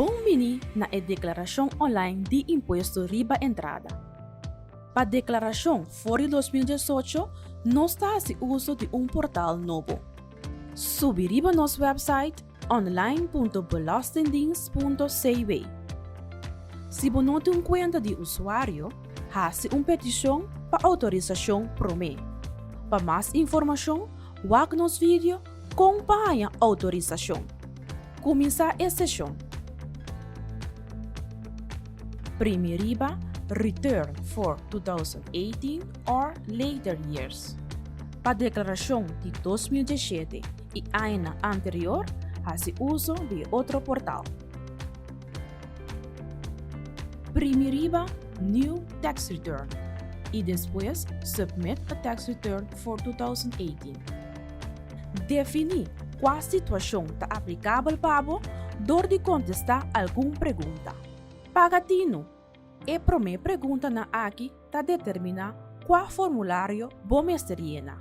Bon bini na e deklarashon online di impuesto riba entrada. Pa deklarashon for di dos mil diesocho nos ta hasi uso di un portal nobo. Subi riba nos wèpsait. online.belastingdienst.cw. Si bo no tin un kuenta di usuario, hasi un petishon pa outorisashon promé. Pa mas informashon, wak nos video Kon pa haña outorisashon. Kuminsá e seshon. Primi riba Return for 2018 or later years pa deklarashon di dos mil diesshete. i añanan anterior hasi uso di e otro portal. Primi riba New Tax Return i despues Submit a Tax Return for 2018. Definí kua situashon ta aplikabel pa bo dor di kontestá algun pregunta. Paga tinu. E promé preguntanan aki ta determiná kua formulario bo mester yena.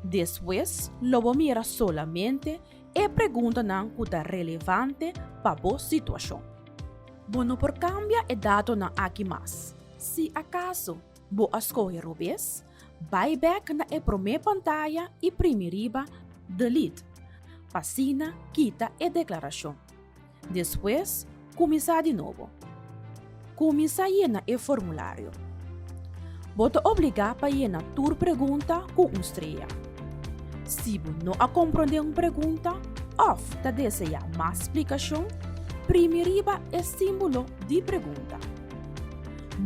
Despues lo bo mira solamente e preguntanan ku ta relevante pa bo situashon. Bo no por kambia e datonan aki mas. Si akaso bo a skohe robes, bai bèk na e promé pantaya i primi riba Delete, pa asina kita e deklarashon. Despues, kuminsá di nobo. Kuminsá yena e formulario. Bo ta obligá pa yena tur pregunta ku un streya. Si bo no a komprondé un pregunta òf ta deseá mas splikashon, primi riba e símbolo di pregunta.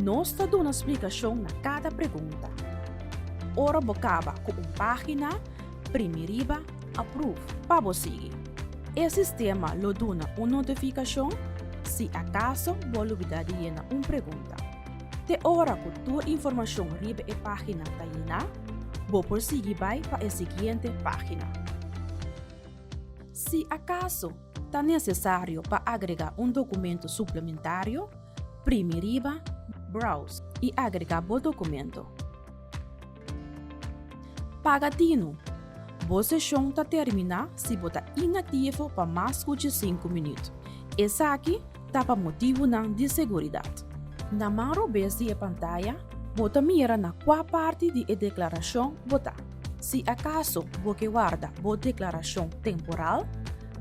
Nos ta duna splikashon na kada pregunta. Ora bo kaba ku un página, primi riba Aprove pa bo sigui. E sistema lo duna un notifikashon si akaso bo lubidá di yena un pregunta. Te ora ku tur informashon riba e página ta yená, bo por sigui bai pa e siguiente página. Si akaso ta nesesario pa agregá un dokumentu suplementario, primi riba Browse i agregá bo dokumentu. Paga tinu. Bo seshon ta terminá si bo ta inaktivo pa mas ku dje sinku minüt. Esaki ta pa motibunan di seguridat. Na maro bes di e pantaya bo ta mira na kua parti di e deklarashon bo ta. Si akaso bo ke warda bo deklarashon temporal,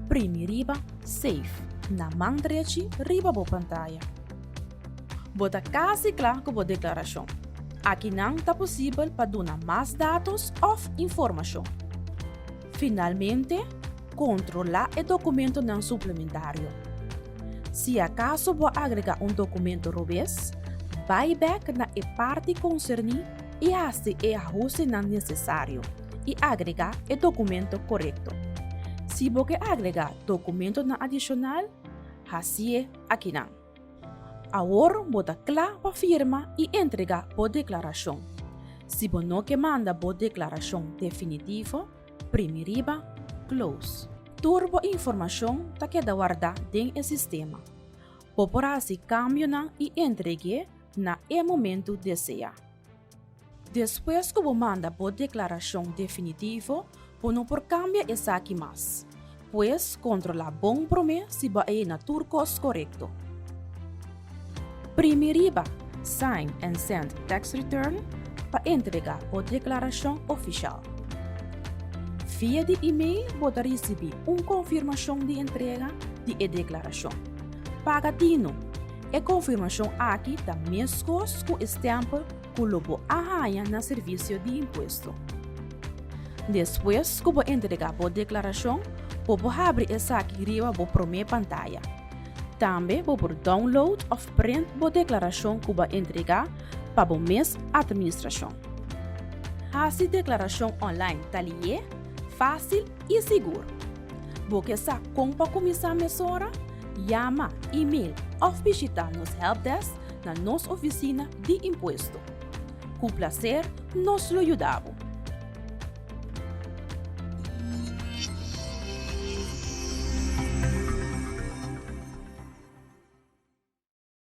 primi riba Save na man drechi riba bo pantaya. Bo ta kasi kla ku bo deklarashon? Aki nan ta posibel pa duna mas datos òf informashon. Finalmente, kontrolá e dokumentonan suplementario. Si akaso bo a agregá un dokumento robes, bai bèk na e parti konserní i hasi e ahustenan nesesario i agregá e dokumento korekto. Si bo ke agregá dokumentonan adishonal, hasié akinan. Awor bo ta kla pa firma i entregá bo deklarashon. Si bo no ke manda bo deklarashon definitivo, primi riba Close. Tur bo informashon ta keda wardá den e sistema. Bo por hasi kambionan i entreg'é na e momentu deseá. Despues ku bo manda bo deklarashon definitivo, bo no por kambia esaki mas. Pues, kontrolá bon promé si bo a yena tur kos korekto. Primi riba Sign and Send Tax Return pa entregá bo deklarashon ofishal. Via di email bo ta risibí un konfirmashon di entrega di e deklarashon. Paga dinu. E konfirmashon aki ta meskos ku e stèmpel ku lo bo a haña na Servisio di Impuesto. Despues ku bo entregá bo deklarashon, por bo habri esaki riba bo promé pantaya. Tambe bo por download òf print bo deklarashon ku bo a entregá pa bo mes atministrashon. Hasi deklarashon online ta lié, fásil i sigur. Bo ke sa kon pa kuminsá mesora? Yama, email òf bishitá nos hèlpdèsk na nos ofisina di impuesto. Ku plaser nos lo yuda bo.